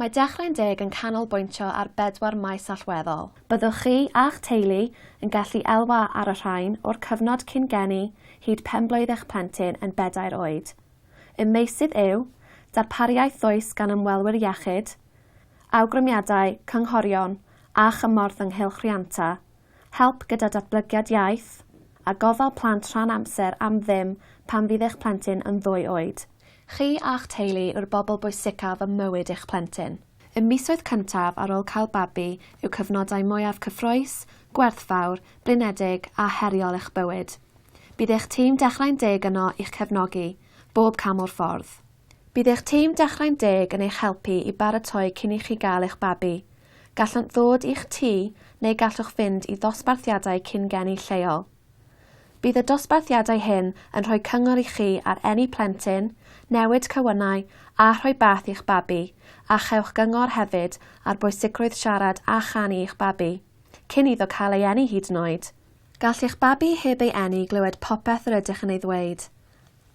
Mae Dechrau'n Deg yn canolbwyntio ar bedwar maes allweddol. Byddwch chi a'ch teulu yn gallu elwa ar y rhain o'r cyfnod cyn geni hyd penblwydd eich plentyn yn bedair oed. Y meysydd yw, darpariaeth ddwys gan ymwelwyr iechyd, awgrymiadau, cynghorion a chymorth ynghylch rhianta, help gyda datblygiad iaith, a gofal plant rhan amser am ddim pan fydd eich plentyn yn ddwy oed. Chi a'ch teulu yw'r bobl bwysicaf ym mywyd eich plentyn. Y misoedd cyntaf ar ôl cael babi yw cyfnodau mwyaf cyffrous, gwerthfawr, blinedig a heriol eich bywyd. Bydd eich tîm Dechrau'n Deg yno i'ch cefnogi, bob cam o'r ffordd. Bydd eich tîm Dechrau'n Deg yn eich helpu i baratoi cyn i chi gael eich babi. Gallant ddod i'ch tŷ neu gallwch fynd i ddosbarthiadau cyn-geni lleol. Bydd y dosbarthiadau hyn yn rhoi cyngor i chi ar eni plentyn, newid cywynnau a rhoi bath i'ch babi a chewch gyngor hefyd ar bwysigrwydd siarad a chanu i'ch babi, cyn iddo cael ei eni hyd yn oed. Gall eich babi heb ei eni glywed popeth yr ydych yn ei ddweud,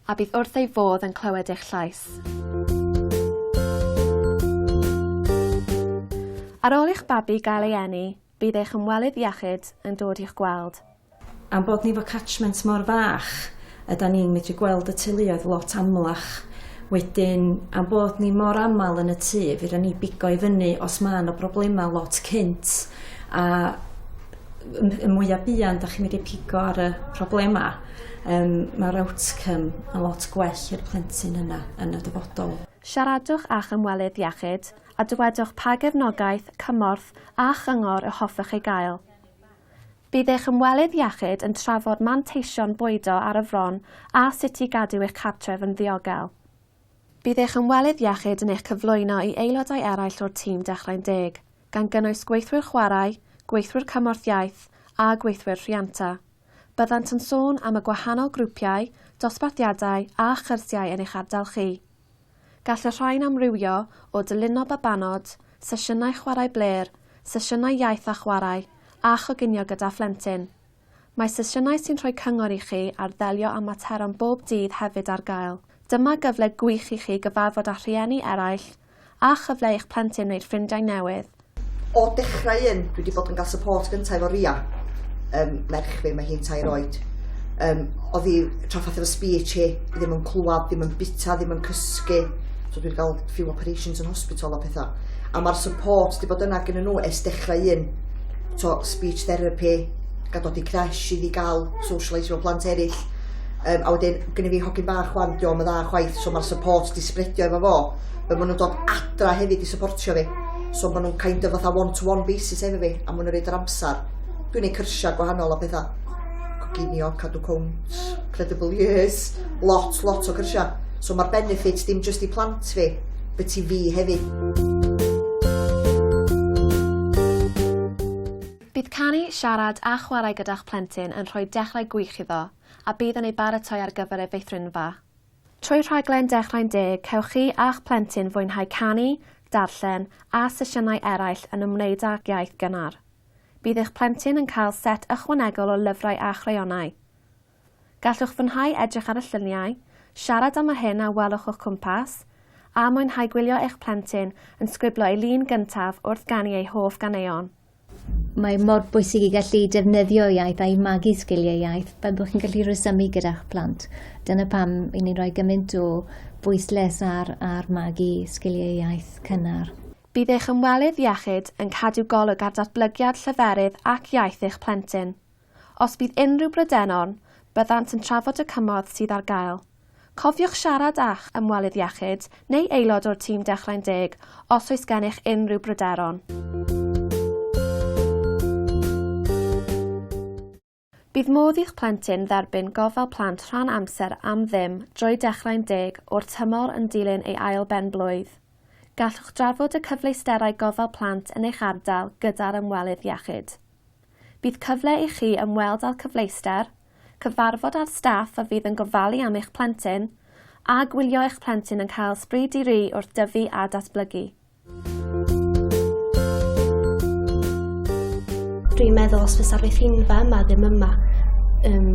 a bydd wrth ei fodd yn clywed eich llais. Ar ôl i'ch babi gael ei eni, Bydd eich ymwelydd iechyd yn dod i'ch gweld. Am bod ni 'fo catchment mor fach, ydan ni'n medru gweld y teuluoedd lot amlach. Wedyn, am bod ni mor aml yn y tŷ, fedran ni bigo i fyny os ma' 'na broblema lot cynt, a m- y mwya buan 'dach chi'n medru pigo ar y problema, yym, ma'r outcome yn lot gwell i'r plentyn yna yn y dyfodol. Siaradwch â'ch ymwelydd iechyd a dywedwch pa gefnogaeth, cymorth a chyngor y hoffech ei gael. Bydd eich ymwelydd iechyd yn trafod manteision bwydo ar y fron a sut i gadw eich cartref yn ddiogel. Bydd eich ymwelydd iechyd yn eich cyflwyno i aelodau eraill o'r tîm Dechrau'n Deg, gan gynnwys gweithwyr chwarae, gweithwyr cymorth iaith a gweithwyr rhianta. Byddant yn sôn am y gwahanol grwpiau, dosbarthiadau a chyrsiau yn eich ardal chi. Gall y rhain amrywio o dylino babanod, sesiynau chwarae blêr, sesiynau iaith a chwarae, a choginio gyda phlentyn. Mae sesiynau sy'n rhoi cyngor i chi ar ddelio â materion bob dydd hefyd ar gael. Dyma gyfle gwych i chi gyfarfod â rhieni eraill, a chyfle i'ch plentyn wneud ffrindiau newydd. O dechrau un, dwi wedi bod yn cael support gyntaf efo Ria, um, merch fi, mae hi'n tair oed. Um, oedd hi traffath efo speech hi, ddim yn clywed, ddim yn bita, ddim yn cysgu. So dwi'n cael few operations yn hospital a pethau. A mae'r support wedi bod yna gen nhw es dechrau un. So, speech therapy, gadodi crash i fi gael socialise efo plant eraill. Um, a wedyn, gynnu fi hogyn bach wan, diolch yn dda chwaith, so mae'r support di spredio efo fo. Fel maen nhw'n dod adra hefyd i supportio fi. So maen nhw'n kind of fatha one-to-one basis efo fi, a maen nhw'n rhaid yr amser. Dwi'n ei cyrsiau gwahanol a pethau. Coginio, cadw cwnt, credible years, lot, lot o cyrsiau. So mae'r benefits dim just i plant fi, but i fi hefyd. Bydd canu, siarad a chwarae gyda'ch plentyn yn rhoi dechrau gwych iddo, a bydd yn ei baratoi ar gyfer ei feithrinfa. Trwy rhaglen Dechrau'n Deg cewch chi a'ch plentyn fwynhau canu, darllen a sesiynau eraill yn ymwneud â'r iaith gynnar. Bydd eich plentyn yn cael set ychwanegol o lyfrau a chreionau. Gallwch fwynhau edrych ar y lluniau, siarad am yr hyn a welwch o'ch cwmpas, a mwynhau gwylio eich plentyn yn sgriblo ei lun gyntaf wrth ganu ei hoff ganeuon. Mae mor bwysig i gallu defnyddio iaith a'i magu sgiliau iaith fel bod chi'n gallu rhesymu gyda'ch plant. Dyna pam i ni'n rhoi gymaint o bwysles ar, ar magu sgiliau iaith cynnar. Bydd eich ymwelydd iechyd yn cadw golwg ar datblygiad lleferydd ac iaith eich plentyn. Os bydd unrhyw bryderon, byddant yn trafod y cymorth sydd ar gael. Cofiwch siarad â'ch ymwelydd iechyd neu aelod o'r tîm Dechrau'n Deg os oes gennych unrhyw bryderon. Bydd modd i'ch plentyn dderbyn gofal plant rhan amser am ddim drwy Dechrau'n Deg o'r tymor yn dilyn ei ail ben-blwydd. Gallwch drafod y cyfleusterau gofal plant yn eich ardal gyda'r ymwelydd iechyd. Bydd cyfle i chi ymweld â'r cyfleuster, cyfarfod â'r staff a fydd yn gofalu am eich plentyn, a gwylio eich plentyn yn cael sbri di-ri wrth dyfu a datblygu. Dwi'n meddwl os fysa'r fethingfa yma ddim yma, um,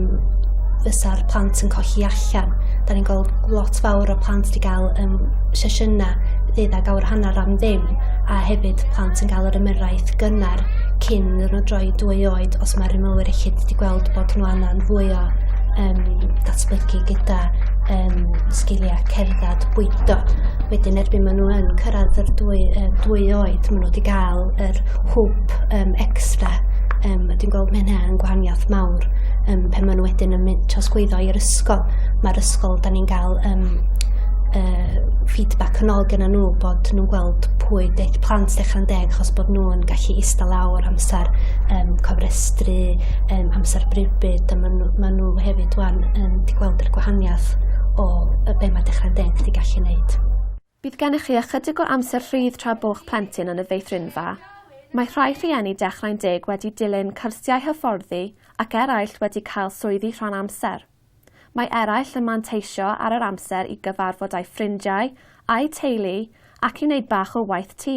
fysa'r plant yn colli allan. Da ni'n gweld lot fawr o plant wedi cael um, sesiynau ddydd ag awr hanner am ddim a hefyd plant yn cael yr ymyrraeth gynnar cyn iddyn nhw droi dwy oed os mae'r ymwelwyr eich wedi gweld bod nhw angen fwy o um, datblygu gyda um, sgiliau cerdded bwydo. Wedyn erbyn maen nhw yn cyrraedd yr dwy, uh, dwy oed, maen nhw wedi cael yr hwb um, extra. Um, dwi'n gweld mae hynny'n gwahaniaeth mawr um, pe maen nhw wedyn yn mynd trosgwyddo i'r ysgol. Mae'r ysgol, da ni'n cael um, uh, feedback yn ôl gyda nhw bod nhw'n gweld pwy deith plant dechrau'n deg achos bod nhw'n gallu eista lawr, amser um, cofrestru, um, amser brybyd, a maen nhw, ma nhw hefyd wan yn di gweld yr gwahaniaeth o y be mae dechrau'n deg di gallu wneud. Bydd gennych chi ychydig o amser rhydd tra bo'ch plentyn yn y feithrinfa. Mae rhai rhieni dechrau'n deg wedi dilyn cyrsiau hyfforddi ac eraill wedi cael swyddi rhan amser. Mae eraill yn manteisio ar yr amser i gyfarfod â'i ffrindiau, a'u teulu ac i wneud bach o waith tŷ.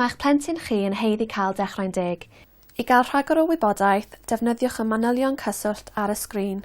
Mae eich plentyn chi yn haeddu cael dechrau'n deg. I gael rhagor o wybodaeth, defnyddiwch y manylion cyswllt ar y sgrin.